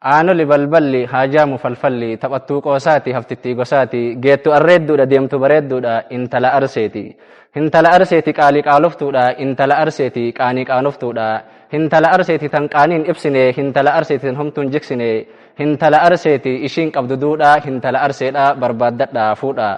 Aanoli balballi, haajaamu falfalli, taphattuu qoosaati, haftittii gosaati, geettu arreedduudha, deemtu bareedduudha, intala arseeti. Hintala arseeti qaali qaaloftuudha, intala arseeti qaanii qaanoftuudha. Hintala arseeti tan qaaniin ibsine, hintala arseeti tan homtuun jiksine. Hintala arseeti ishiin qabdu duudhaa, hintala arseedha barbaaddadhaa fuudhaa.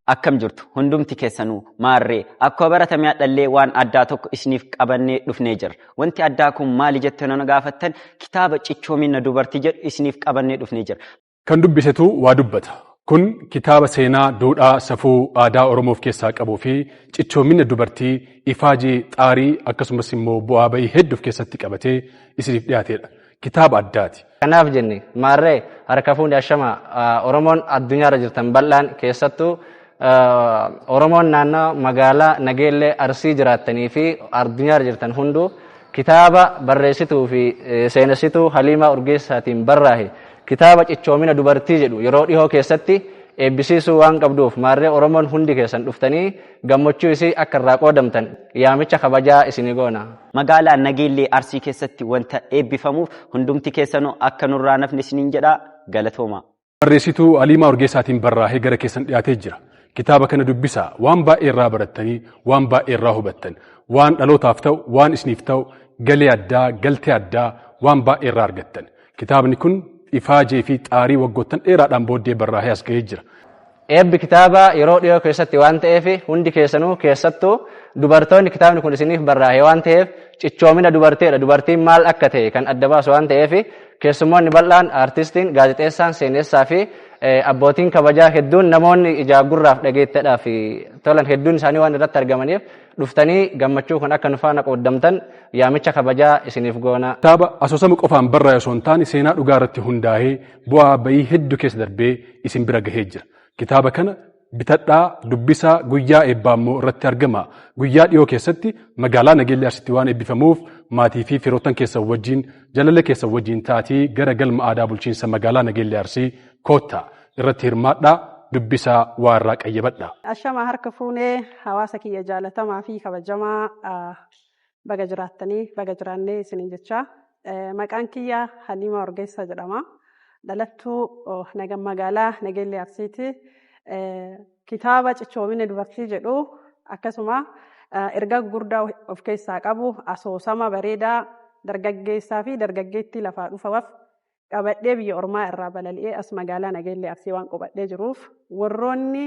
Akkam jirtu hundumti keessanuu? Maarree, akkuma baratame hadhallee waan addaa tokko isiniif qabannee dhufnee jirra. Wanti addaa kun maali jettanii na gaafattan kitaaba Cichoominna Dubartii jedhu isiniif qabannee dhufnee jirra. Kan dubbisetu waa dubbata. Kun kitaaba seenaa, duudhaa, safuu, aadaa Oromoo of keessaa qabuu fi cichoominna dubartii, ifaajee, xaarii akkasumas immoo bu'aa ba'ii heddu of keessatti qabatee isiniif dhiyaateedha. kitaaba addaati. Kanaaf jenne maarree harka fuune ashama Oromoon addunyaarra jirtan bal'aan keessattuu Oromoon naannoo magaalaa Nageellee Arsii jiraattanii fi addunyaarra jirtan hunduu kitaaba barreessituu fi seenessituu Haliimaa Urgeessaatiin barraahe kitaaba cichoomina dubartii jedhu yeroo dhihoo keessatti eebbisiisuu waan qabduuf maarree Oromoon hundi keessan dhuftanii gammachuu isii akka irraa qoodamtan yaamicha kabajaa isinii goona. Magaalaa Nageellee Arsii keessatti wanta eebbifamuuf hundumti keessanuu akka nurraa hin hafne isiniin jedha. Galatoomaa! Barreessituu Haliimaa Urgeessaatiin barraahee gara keessan dhiyaatee jira. Kitaaba kana dubbisaa, waan baay'ee irraa barattanii, waan baay'ee irraa hubattan, waan dhalootaaf ta'u, waan isiniif ta'u, galee addaa, galtee addaa, waan baay'ee irraa argattan. Kitaabni kun ifaajee fi xaarii waggoottan dheeraadhaan booddee barraahee as ga'ee jira. Eebbi kitaabaa yeroo dhiyoo keessatti waan ta'eef hundi keessanuu keessattuu dubartoonni kitaabni kun isiniif barraa'e waan ta'eef cichoomina dubarteedha dubartiin maal akka ta'e kan adda baasu waan ta'eef keessummoonni bal'aan aartistiin gaazexeessaan seenessaa fi abbootiin kabajaa hedduun namoonni ijaa gurraaf dhageettadhaaf tolan hedduun isaanii waan irratti argamaniif dhuftanii gammachuu kun akka nu faana qooddamtan yaamicha kabajaa isiniif goona. Kitaaba asoosama qofaan barraa'e osoo hin taane seenaa dhugaa irratti hundaa'ee Bu'aa bayii heddu keessa darbee isin bira gahee jira. Kitaaba kana bitadhaa, dubbisaa, guyyaa eebbaa immoo irratti argamaa. Guyyaa dhiyoo keessatti magaalaa Nageellee Arsitti waan eebbifamuuf maatii fi firoottan keessan wajjiin, jaalala keessan wajjiin ta'atii gara Galma Aadaa Bulchiinsa Magaalaa Nageellee Arsii koottaa. Irratti hirmaadhaa, dubbisaa, waa irraa qayyabadhaa. Ashama harka fuune hawaasa kiyya jaalatamaa fi kabajamaa Baga jiraattanii baga jiraannee isiniin jechaa. Maqaan kiyya Haliimaa Orgeessaa jedhama. Dhalattuu nagan magaalaa Nageellee Arsiiti. Kitaaba Cichoomina Dubartii jedhu akkasuma ergaa gurguddaa of keessaa qabu asoosama bareedaa dargaggeessaa fi dargaggeettii lafaa dhufaaf qabadhee biyya ormaa irraa balali'ee as magaalaa Nageellee Arsii waan qubadhee jiruuf warroonni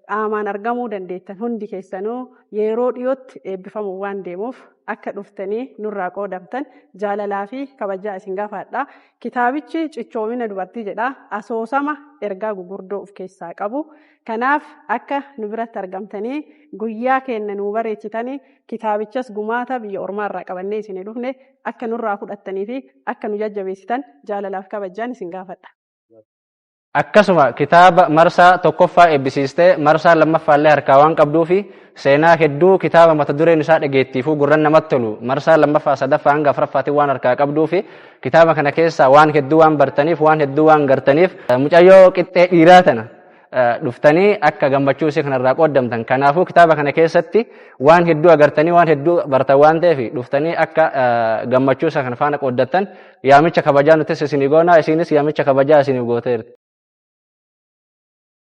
qaamaan argamuu dandeettan hundi keessanuu yeroo dhiyootti eebbifamuuf waan deemuuf akka dhuftanii nurraa qoodamtan jaalalaa fi kabajaa isin gaafadha. Kitaabichi cichoomina dubartii jedha asoosama ergaa gugurdoo of keessaa qabu. Kanaaf akka nu biratti argamtanii guyyaa keenna nuu bareechitanii kitaabichas gumaata biyya ormaa irraa qabannee isin dhufne akka nurraa fudhattanii fi akka nu jajjabeessitan jaalalaaf kabajjaan isin gaafadha. Akkasuma kitaaba marsaa tokkoffaa eebbisiistee marsaa lammaffaallee harkaa waan qabduufi seenaa hedduu kitaaba mata dureen isaa dhageettiifuu gurran namatti tolu marsaa lammaffaa sadaffaa hanga afraffaatiin waan harkaa qabduufi kitaaba kana keessaa waan hedduu waan bartaniif waan hedduu waan gartaniif mucayyoo qixxee dhiiraa tana dhuftanii akka gammachuu isii kanarraa qooddamtan. Kanaafuu kitaaba kana keessatti waan hedduu agartanii waan hedduu bartan waan ta'eef dhuftanii akka gammachuu isa kana faana qooddattan yaamicha kabajaa nutis isinii goonaa isiinis yaamicha kabajaa isiniif gooteerti.